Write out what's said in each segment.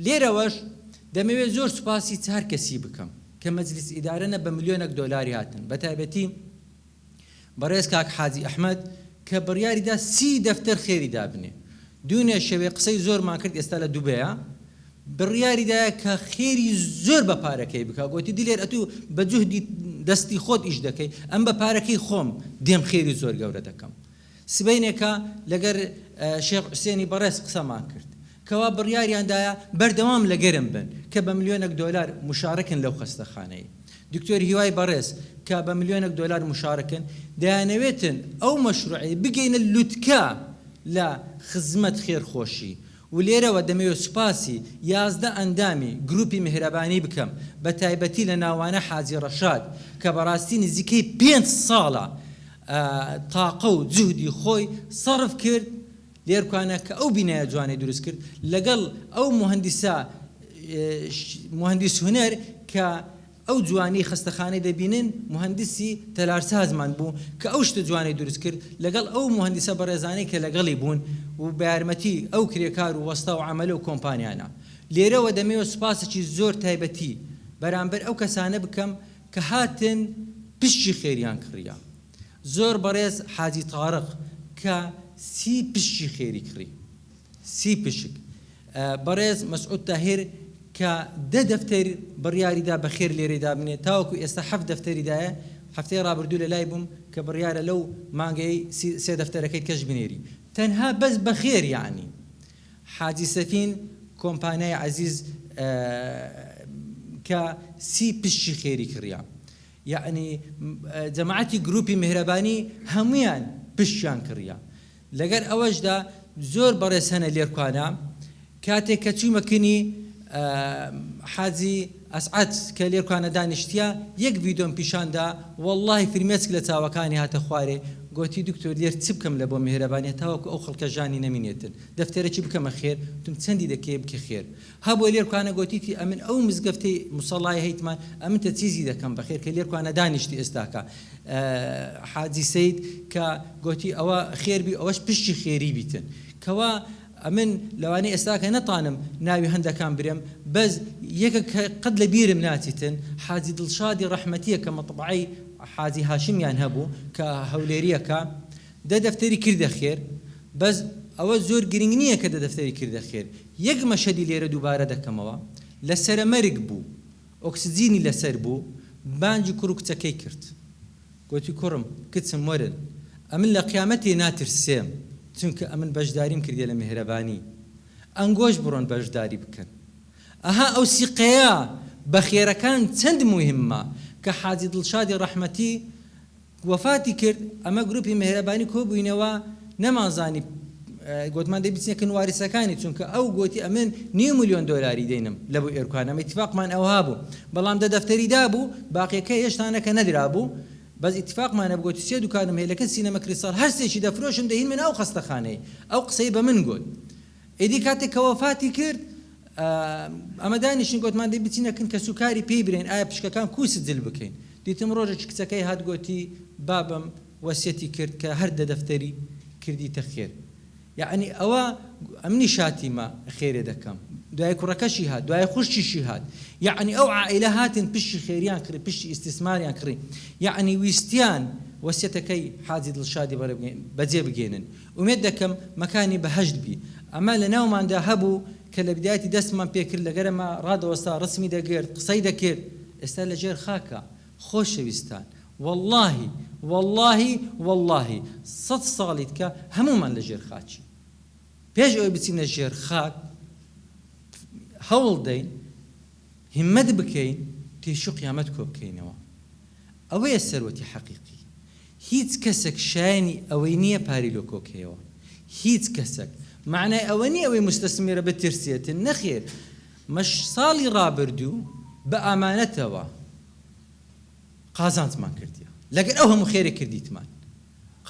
لێرەوەش دەمەوێت زۆر سوپاسی چار کەسی بکەم کە مەجلیس ئیدارە نە بە ملیۆنەک دۆلاری هاتن بە تایبەتی بەڕێز کاک حاجی ئەحمەد کە بڕیاری دا سی دەفتەر خێری دابنێ دوێنێ شەوێ قسەی زۆرمان کرد ئێستا لە دوبەیە بڕیاری دایە کە خێری زۆر بە پارەکەی بکا گۆتی دلێر ئەتوو بە جوهدی دەستی خۆت ئیش دەکەی ئەم بە پارەکەی خۆم دێم خێری زۆر گەورە دەکەم سبەینێکە لەگەر شێخ حوسێنی بەڕێز قسەمان کرد کەوا بڕیاریان دایە بەردەوام لە گەرم بن کە بە ملیۆنەک دۆلار مشارەکن لەو خەستەخانەی دکتۆر هیوای بەڕێز کە بە ملیۆنەک دۆلار مشارەکن دەیانەوێتن ئەو مەشروعەی بگەینە لوتکە لە خزمەت خێرخۆشی ولێرەوە دەمەوێت سوپاسی یازدە ئەندامی گروپی میهرەبانی بکەم بەتایبەتی لەناوانە حاجی ڕەشاد کە بەڕاستی نزیکەی پێنج ساڵە تاقە و جوهدی خۆی سەرف کرد لێرکوانە کە ئەو بینایە جوانەی دروست کرد لەگەڵ ئەو موهەندیسە موهەندیس هونەر کە ئەو جوانیەی خەستەخانەی دەبینن موهەندیسی تەلارسازمان بوو کە ئەو شتە جوانەی دروست کرد لەگەڵ ئەو موهەندیسە بەڕێزانەی کە لەگەڵی بوون و بەیارمەتی ئەو کرێکار و وەستا و عەمەلە و کۆمپانیانە لێرەوە دەمەوێت سوپاسێکی زۆر تایبەتی بەرامبەر ئەو کەسانە بکەم کە هاتن پشکی خێریان کڕیە زۆر بەڕێز حاجی تارق کە سی پشکی خێری کڕی. سی پشک بەڕێز مەسعود تاهیر کە دە دەفتەر بڕیاری دا بەخێر لێرەی دابنێ تاوەکو ئێستا حەفت دەفتەری دایە هەفتەی ڕابردوو لەلای بووم کە بڕیارە لەو مانگەی سی سێ دەفتەرەکەی کەش بنێری تەنها بەس بەخێر یەعنی حاجی سەفین کۆمپانیای عەزیز کە سی پشکی خێری کڕیا یەعنی جەماعەتی گروپی میهرەبانی هەموویان پشکیان کڕیا لەگەر ئەوەشدا زۆر بەڕێز هەنە لێرکوانا کاتێک کە چوومە کنی حاجی ئەسعەد کە لێرکوانە دانیشتیە یەک ڤیدۆم پیشاندا وەڵاهی فرمێسک لە چاوەکانی هاتە خوارێ گۆتی دکتۆر لێر چ بکەم لە بۆ مێهرەبانیە تاوەکو ئەو خەڵکە ژانی نەمینێتن دەفتەرەکی بکەمە خێر وتم چەندی دەکەی بکە خێر هە بۆ لێرکوانە گۆتیتی ئە من ئەو مزگەفتەی موسەڵای هە یتمان ئە من تە چیزی دە کەم بە خێر کە لێرکوانە دانیشتی ئێستاکە حاجی سەید کە گۆتی ئەوە خێر بی ئەوەش پشتی خێری بیتن کە وا ئە من لە وانە ئێستاکە نە تانم ناوی هە ندەکان برێم بەس یەکە کە قەت لە بیرم ناچیتن حاجی دڵشادی ڕەحمەتیە کە مەتبەعەی حاجی هاشمیان هە بوو کە هە ولێریە کە دە دەفتەری کردە خێر بەس ئەوە زۆر گرنگ نیە کە دە دەفتەری کردە خێر یەک مەشەدی لێرە دووبارە دەکەمەوە، لە سەرە مەرگ بوو، ئۆکسجینی لەسەر بوو، بانگی کوڕ و کچەکەی کرد. گۆتی، کوڕم، کچم، وەرن، ئەمن لە قیامەتێ ناترسێم، چونکە ئەمن بەشداریم کردیە لە میهرەبانی، ئەنگۆش بڕۆن بەشداری بکەن. ئەها ئەو سیقەیە بە خێرەکان چەند موهیممە، کە حاجی دڵشادی ڕەحمەتی، وەفاتی کرد ئەمە گروپی مێهرەبانی کۆبوینەوە نەمان زانی گۆتمان دەی بچنە کن واریسەکانی چونکە ئەو گۆتی ئەمن نیو ملیۆن دۆلاری دەینم لە بو ئێرکوان ئەمە ئیتفاقمان ئەوها بو بەڵام دە دەفتەری دابو باقیەکە هێشتا نەکە نەدرابو بەس ئیتفاقمان هەبو گۆتی سێ دوکانم هەیە لە کن سینەمە کریستاڵ هەرسێکی دەفرۆشم دەهینمنە ئەو خەستەخانەی ئەو قسەی بەمن گۆت ئیدی کاتێک کە وەفاتی کرد ئەمە دانیشتین گوتمان دەی بچینە کن کەس و کاری پێی برێن ئایا پشکەکان کوو سجل بکەین دیتم ڕۆژێکی کچەکەی هات گۆتی بابم وەسیەتی کرد کە هەر دە دەفتەری کردیتە خێر یەعنی ئەوە ئەمنی شاتیمە خێرێ دەکەم دوای کوڕەکەشی هات دوای خوشتیشی هات یەعنی ئەو عائلە هاتن پشتی خێریان کڕی پشتی ئیسیسماریان کڕی یەعنی ویستیان وەسیەتەکەی حاجی دڵشادی بەجێ بگەێنن ئومێد دەکەم مەکانی بەهەشت بی. ئەمە لە ناوماندا هەبوو کە لە بدایەتی دەستمان پێ کرد لە گەرما ڕادەوەستا ڕسمی دەگرت قسەی دەکرد ئێستا لە ژێر خاکە خۆشەویستان وەڵاهی وەڵاهی وەڵاهی سەد ساڵی دکە هەموومان لە ژێر خاکین پێش ئەوەی بچینە ژێر خاک هەوڵ دەین هیمەت بکەین تیشو قیامەت کۆ بکەینەوە ئەوەیە سەروەتی حەقیقی. هیچ کەسەک شایەنی ئەوەی نیە پاری لۆ کۆکەیەوە هیچ کەسەک مەعنای ئەوە نیە ئەوەی موستەسمیرە بترسێتن نەخێر مەش ساڵی ڕابردوو بە ئامانەتەوە قازانجمان کردیە لەگەر ئەو هەموو خێرەی کردیتمان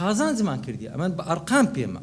قازانجمان کردیە ئەمە بە ئەرقام پێمە